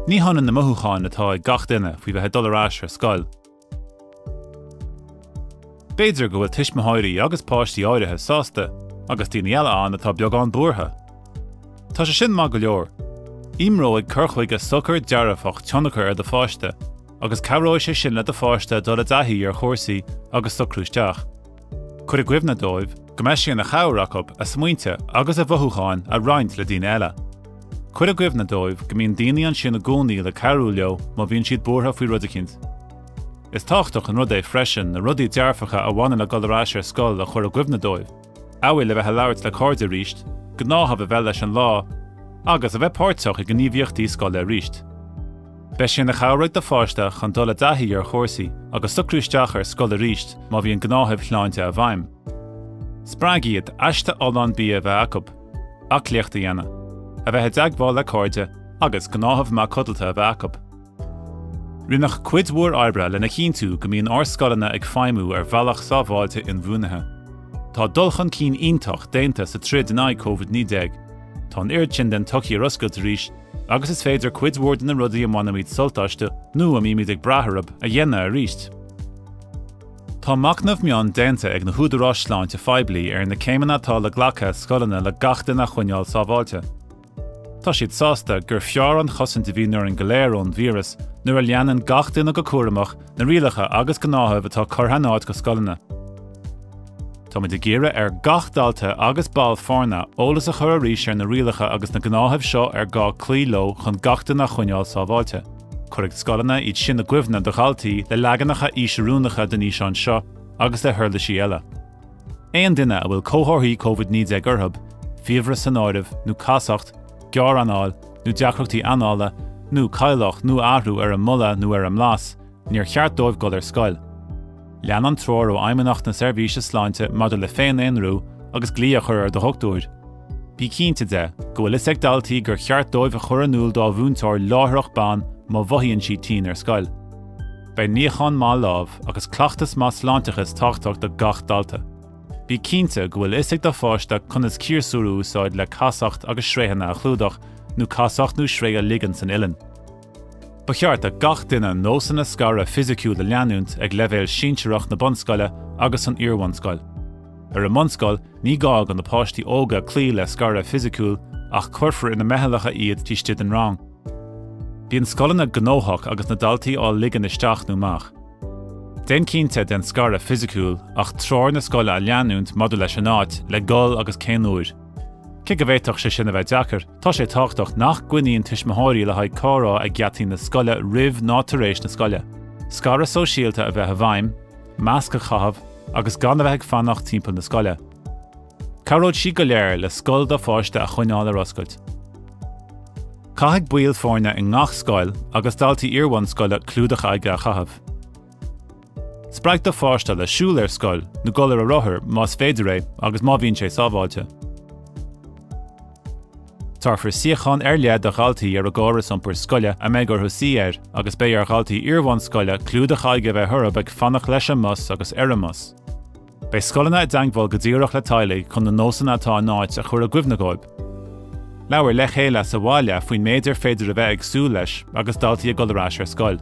Ní hionann na mothúcháin atá ag gach duine faoi bheith ag dul ar ais ar scoil. B'fhéidir go bhfuil tuismitheoirí agus páistí áirithe sásta agus daoine eile ann atá beagán buartha. Tá sé sin maith go leor. Imreoidh cur chuige socair dearfach tionchar ar do pháiste agus cabhróidh sé sin le do pháiste dul i dtaithí ar chúrsaí agus socrú isteach. Cuir i gcuimhne dóibh go mbeidh sé ina chabhair acu a smaointe agus a mothúcháin a roinnt le daoine eile. Cuir i gcuimhne dóibh go mbíonn daoine ansin i gcónaí le cabhrú leo má bhíonn siad buartha faoi rud eicínt. Is tábhachtach an rud é freisin na rudaí dearfacha a bhaineann le dul ar ais ar scoil a chur i gcuimhne dóibh, amhail a bheith ag labhairt le cairde aríst, gnáthamh a bheith leis an lá, agus a bheith páirteach i ngníomhaíochtaí scoile aríst. Beidh sé ina chabhair ag do pháiste chun dul i dtaithí ar chúrsaí agus socrú isteach ar scoil arís má bhíonn gnáthaimh shláinte i bhfeidhm. Spreag iad aiste fholláin bia a bheith acu, aclaíocht a dhéanamh, a bheith i dteagmháil le cairde agus gnáthamh maith codlata a bheith acu. Rinneadh cuid mhór oibre lena chinntiú go mbíonn ár scoileanna ag feidhmiú ar bhealach sábháilte inbhuanaithe. Tá dul chun cinn iontach déanta sa troid in aghaidh Covid-19. Tá an oiread sin den tsochaí ar oscailt arís agus is féidir cuid mhór de na rudaí a mbainimid sult astu nó a mbímid ag brath orthu a dhéanamh aríst. Tá machnamh mion déanta ag na húdaráis sláinte phoiblí ar na céimeanna atá le glacadh ag scoileanna le gach duine a choinneáil sábháilte. Tá siad sásta gur fearr an chosaint a bhíonn orainn go léir ón víreas nuair a leanann gach duine go cúramach na rialacha agus gnáthaimh atá curtha in áit ag scoileanna. Táimid ag iarraidh ar gach dalta agus ball foirne eolas a chur arís ar na rialacha agus na gnáthaimh seo ar gá cloí leo chun gach duine a choinneáil sábháilte. Cuirfidh scoileanna iad sin i gcuimhne do dhaltaí le leaganacha aois-oiriúnacha den fhíseán seo agus le huirlisí eile. Aon duine a bhfuil comharthaí Covid 19 orthu, fiabhras san áireamh, nó casacht, gearr-anáil, nó deacrachtaí anála, nó cailleadh nó athrú ar a mboladh nó ar a mblas, níor cheart dóibh dul ar scoil. Lean an treoir ó Fheidhmeannacht na Seirbhíse Sláinte maidir le féin-aonrú agus glaoch a chur ar do dhoctúir. Bí cinnte de go bhfuil fhios ag daltaí gur cheart dóibh a chur in iúl dá múinteoir láithreach bonn má mhothaíonn siad tinn ar scoil. Beidh níochán maith lámh agus cleachtas maith sláinteachais tábhachtach do gach dalta. Bí cinnte go bhfuil fhios ag do pháiste conas ciarsúr a úsáid le casacht agus sraothanna a chlúdach nó casacht nó sraoth a ligean san uileann. Ba cheart do gach duine nósanna scartha fhisiciúil a leanúint ag leibhéal sinsearach na bunscoile agus san iarbhunscoil. Ar an mbunscoil ní gá do na páistí óga cloí le scaradh fisiciúil ach cuirfear ina meithleacha iad taobh stigh den rang. Bíonn scoileanna gnóthach agus na daltaí á ligean isteach nó amach. Déan cinnte den scaradh fisiciúil ach treoir na scoile a leanúint maidir leis an áit le dhul agus cén uair. Cé go bhféadfadh sé sin a bheith deacair, tá sé tábhachtach nach gcruinníonn tuismitheoirí le haghaidh comhrá ag geataí na scoile roimh ná tar éis na scoile. Scaradh sóisialta a bheith i bhfeidhm, masc a chaitheamh agus gan a bheith ag fanacht timpeall na scoile. Cabhróidh sé go léir le scoil do pháiste a choinneáil ar oscailt. Caithfidh baill foirne i ngach scoil agus daltaí iarbhunscoile clúdach aghaidhe a chaitheamh. Spreag do pháiste le siúl ar scoil nó dul ar a rothar más féidir é agus má bhíonn sé sábháilte. Tabharfar suíochán ar leith do dhaltaí ar an gcóras iompair scoile a mbeidh orthu suí air agus beidh ar dhaltaí iarbhunscoile clúdach aghaidhe a bheith orthu ag fanacht leis an mbus agus ar an mbus. Beidh scoileanna i dteangmháil go díreach le teaghlaigh chun na nósanna atá in áit a chur i gcuimhne dhóibh. Labhair le chéile sa bhaile faoin méid ar féidir a bheith ag súil leis agus daltaí ag dul ar ais ar scoil.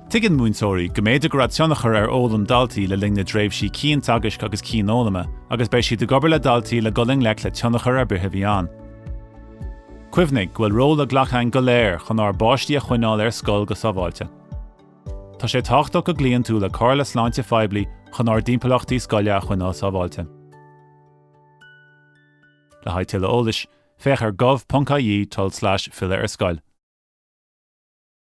Tuigeann múinteoirí go mb'fhéidir go raibh tionchar ar fhoghlaim daltaí le linn na dtréimhsí cianteagaisc agus cianfhoghlama agus beidh siad ag obair le daltaí le dul i ngleic le tionchar ar bith a bhí ann. Cuimhnigh go bhfuil ról le glacadh againn go léir chun ár bpáistí a choinneáil ar scoil go sábháilte. Tá sé tábhachtach go gcloíonn tú le comhairle sláinte phoiblí chun ár dtimpeallachtaí scoile a choinneáil sábháilte. Le haghaidh tuilleadh eolais, féach ar gov.ie tulslais filleadh ar scoil.